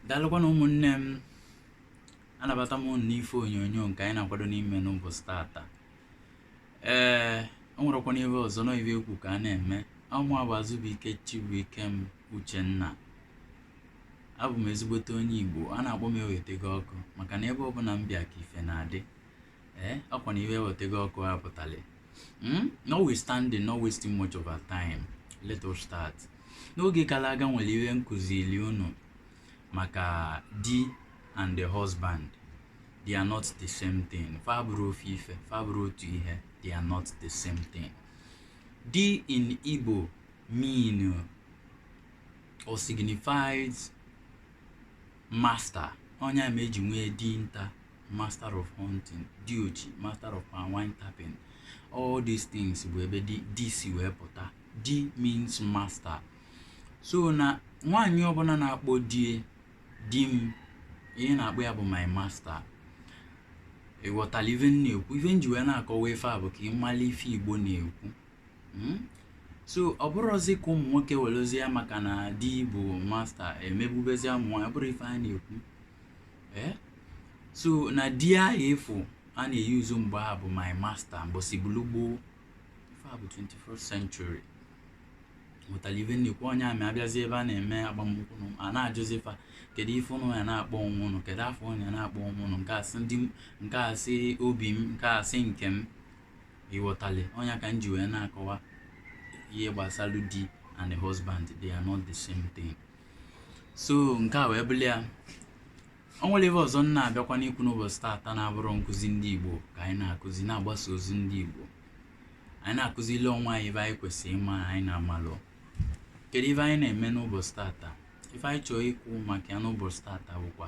daalụkwanụ ụmụnne m anabata m unu n'ife onyonyo nke anyị na-akwado n'ime n'ụbọchị tata ee o nwerekwana ihe ọzọ na ibe ekwu ka a na-eme ọ mụa bụ Azụbụike Chibuikem Uchenna abụ m ezigbote onye Igbo a na-akpọ m ewetegị ọkụ maka na ebe ọbụla m bịa ka ife na-adị ee ọkwa na ife ewetegị ọkụ a pụtara hmm? notwithstanding not wasting much of our time let us start n'oge gara aga nwere ihe m kụziri unu maka di and the husband they are not the same thing fa abụrọ ofu ife fa abụrọ otu ihe they are not the same thing di in igbo mean or signifies master ọ nya mere eji nwee dinta master of hunting diochi master of wine tapping all these things bụ ebe di si wee pụta di means master so na nwaanyị ọbụla na-akpọ di ya di m ihe ọ na-akpọ ya bụ my master ị ghọtali ife m na-ekwu ife m ji wee na-akọwa ife a bụ ka ị mara ife igbo na-ekwu hmm? so ọ bụrọzi ka ụmụ nwoke werezie ya maka na di bụ master emegbubezi ụmụ nwaanyị ọ bụrọ ife a na-ekwu eh? so na di ahụ efu a na-eyuzu mgbe a bụ my master mbọsị bụlụ gboo ife a bụ 21st century ị ghọtara ife m na-ekwu ọ nya mere abịazi ebe a na-eme agbamnkwụ a na-ajụzi fa kedu ife ụnụ ya na-akpọ onwe ụnụ kedu afa ụnụ ya na-akpọ onwe ụnụ nke a sị obi m nke a sị nkem ị ghọtali ọ nya ka m ji wee na-akọwa ihe gbasara di and the husband they are not the same thing so nke a wee bụrụ ya o nwere ife ọzọ m na-abịakwanụ ikwu n'ụbọchị taata na-abụrụ nkụzi ndị igbo ka anyị na-akụzi na-agbasa ozi ndị igbo anyị na-akụzili onwe anyị ife anyị kwesịrị ịma anyị na-amalụ kedu ife anyị na-eme n'ụbọchị tata ife anyị chọọ ikwu maka ya n'ụbọchị tata bụkwa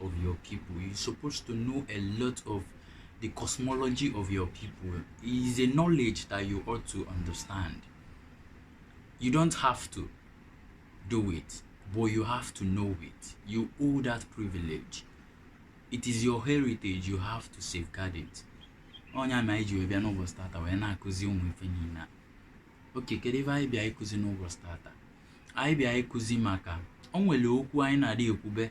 of your people. You're supposed to know a lot of the cosmology of your people. It is a knowledge that you ought to understand. You don't have to do it, but you have to know it. You owe that privilege. It is your heritage, you have to safeguard it. ọ nya mere anyị ji wee bịa n'ụbọchị tata wee na-akụzi ụmụ ife niile a okay kedu ife anyị bịa ịkụzi n'ụbọchị tata anyị bịa ịkụzi maka o nwere okwu anyị na-adị ekwube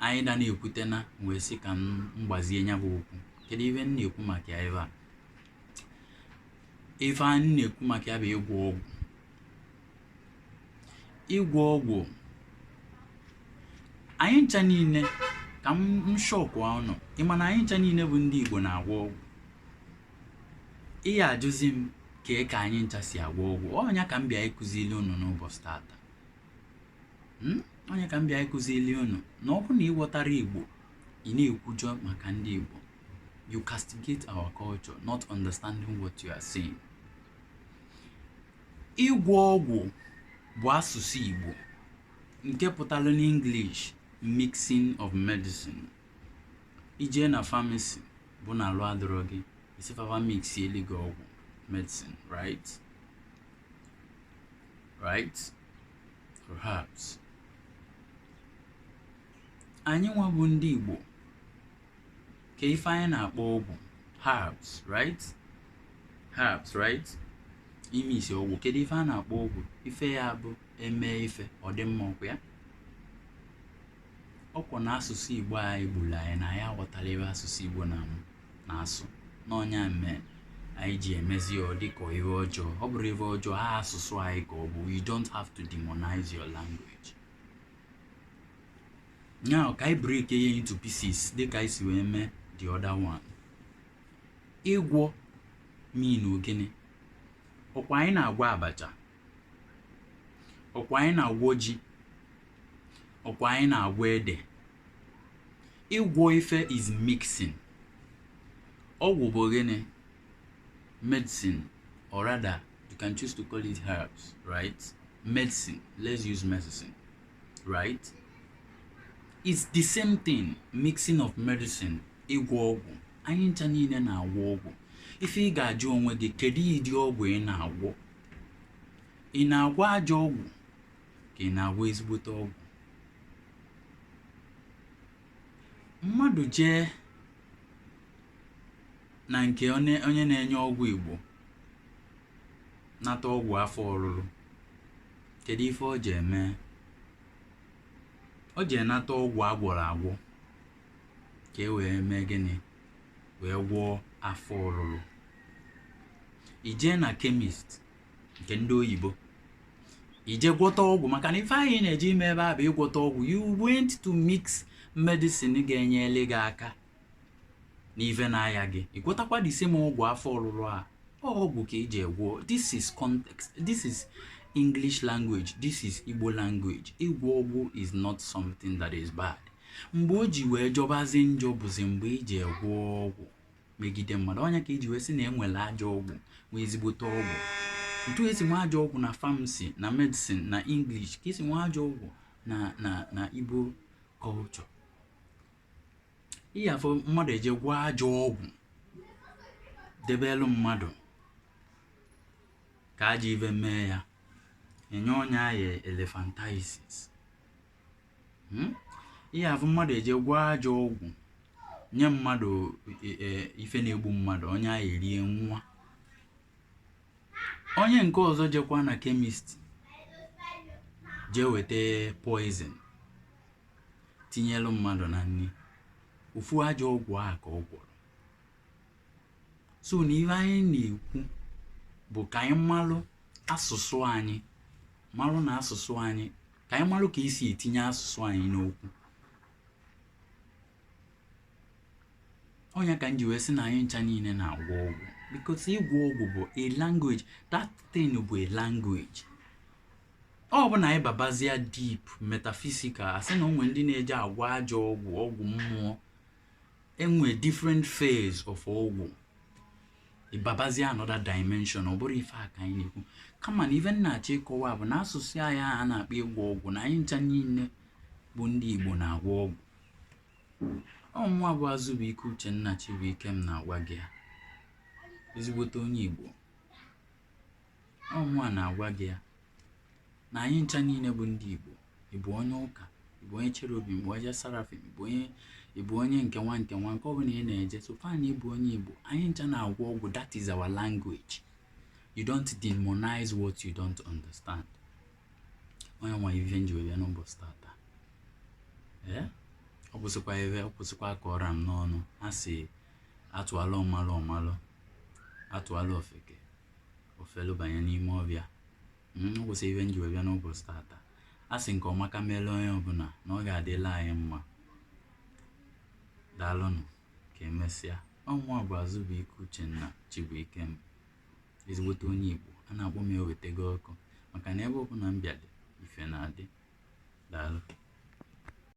anyị na na-ekwute na wee sị ka m gbazie ya bụ okwu kedu ife m na-ekwu maka ya ebe a ife m na-ekwu maka ya bụ ịgwọ ọgwụ ịgwọ ọgwụ anyị ncha niile ka m shock ụnụ ị ma na anyị ncha niile bụ ndị Igbo na-agwọ ọgwụ ị ga-ajụzi m ka ka anyị ncha si agwọ ọgwụ ọ nya ka m bịa ịkụzili unu n'ụbọchị tata hmm? ọ nya ka m bịa ịkụzili unu na ọ bụrụ na ị ghọtarọ igbo ị na-ekwujọ maka ndị igbo you castigate our culture not understanding what you are saying ịgwọ ọgwụ bụ asụsụ igbo nke pụtara n'English mixing of medicine i jee na famasi bụ na alụ adịrọ gị ị sị fa fa mixielu gị ọgwụ medicine right right perhaps anyị nwa bụ ndị Igbo kee ife anyị na-akpọ ọgwụ herbs right herbs right ime isi ọgwụ kedu ife anyị na-akpọ ọgwụ ife ya bụ e mee ife ọ dị mma ọkwa ya ọkwa na asụsụ Igbo anyịgbula anyị na anyị aghọtarọ ife asụsụ Igbo na m na-asụ na ọ nya mee anyị ji emezi ya ọ dịka ife ọjọọ ọ bụrọ ife ọjọọ a asụsụ anyị ka ọ bụ you don't have to demonize your language now ka anyị break ya into pieces dịka anyị si wee mee the other one ịgwọ mean na ọ gịnị ọkwa anyị na-agwọ abacha ọkwa anyị na-agwọ ji ọkwa anyị na-agwọ ede ịgwọ ife is mixing ọgwụ bụ gịnị medicine or rather you can choose to call it herbs right medicine let's use medicine right it's the same thing mixing of medicine ịgwọ ọgwụ anyị ncha niile na-agwọ ọgwụ ife ị ga-ajụ onwe gị kedu ụdị ọgwụ ị na-agwọ ị na-agwọ ajọ ọgwụ ka ị na-agwọ ezigbote ọgwụ mmadụ jee na nke onye onye na-enye ọgwụ igbo nata ọgwụ afọ ọrụrụ kedu ife o je ime o je ịnata ọgwụ a gwọrọ agwọ ka e wee mee gịnị wee gwọọ afọ ọrụrụ i jee na kemist nke ndị oyibo i jee gwọta ọgwụ maka na ife anyị na-eje ime ebe a bụ ịgwọta ọgwụ you went to mix medicine ga-enyere gị aka n'ife na-aya gị ị gwọtakwa the same ọgwụ afọ ọrụrụ a ọgwụ ka i je ịgwọ this is context this is english language this is igbo language ịgwọ ọgwụ is not something that is bad mgbe o ji wee jọbazi njọ bụzi mgbe i jee gwọọ ọgwụ megide mmadụ ọ nya ka eji wee sị na enwere ajọ ọgwụ nwee ezigbote ọgwụ etu esi nwee ajọ ọgwụ na pharmacy na medicine na english ka esi nwee ajọ ọgwụ na na na igbo culture ị ya-afụ mmadụ eje gwọọ ajọ ọgwụ debelu mmadụ ka ajọ ife mee ya enye ọnya ya elephantiasis hmm? ị ya-afụ mmadụ eje gwọọ ajọ ọgwụ nye mmadụ e, e, ife na-egbu mmadụ onye ahụ erie nwụọ onye nke ọzọ jekwa na chemist jee weta poison tinyelu mmadụ na nri ofu ajọ ọgwụ a ka ọ gwọrọ so na ihe anyị na-ekwu bụ ka anyị malụ asụsụ anyị marụ na asụsụ anyị ka anyị marụ ka esi etinye asụsụ anyị n'okwu ọ nya ka m ji wee sị na anyị ncha niile na-agwọ ọgwụ because ịgwọ ọgwụ bụ a language that thing bụ a language ọ bụ na anyị babazia deep metaphysical asị na o nwe ndị na-eji agwọ ajọ ọgwụ ọgwụ mmụọ enwe different phase of ọgwụ ị babazia another dimension ọ bụrọ ife a ka anyị na-ekwu kama na ife m na-achọ ịkọwa bụ na asụsụ anyị a na-akpọ ịgwọ ọgwụ na anyị ncha niile bụ ndị igbo na-agwọ ọgwụ ọ mụwa bụ azụbụike uchenna chibuikem na-agwa gị ya ezigbote onye igbo ọ mụwa na-agwa gị ya na anyị ncha niile bụ ndị Igbo ị bụ onye ụka ị bụ onye cherubim ị bụ onye seraphim ị bụ onye ị bụ onye nke nwa nke nwa nke ọbụla ị na-eje so far na ị bụ onye Igbo anyị ncha na-agwọ ọgwụ that is our language you don't demonize what you don't understand onye nwa ife m ji wee n'ụbọchị tata ee eh? ọ gwụsịkwa ebe ọ gwụsịkwa ka ọ ra m n'ọnụ a sị atụalụ ọmalụ ọ malụ atụalụ ofeke o felu banye n'ime ọfịa ọ gwụsịa ife m ji wee bịa n'ụbọchị tata a sị nke ọma ka meelu onye ọbụla na ọ ga-adịlị anyị mma daalụnụ ka emesịa ọ mụwa bụ azụbụike uchenna chibuikem ezigbote onye igbo a na-akpọ m ewetego ọkụ maka na ebe ọbụla m bịadị ife na-adị daalụ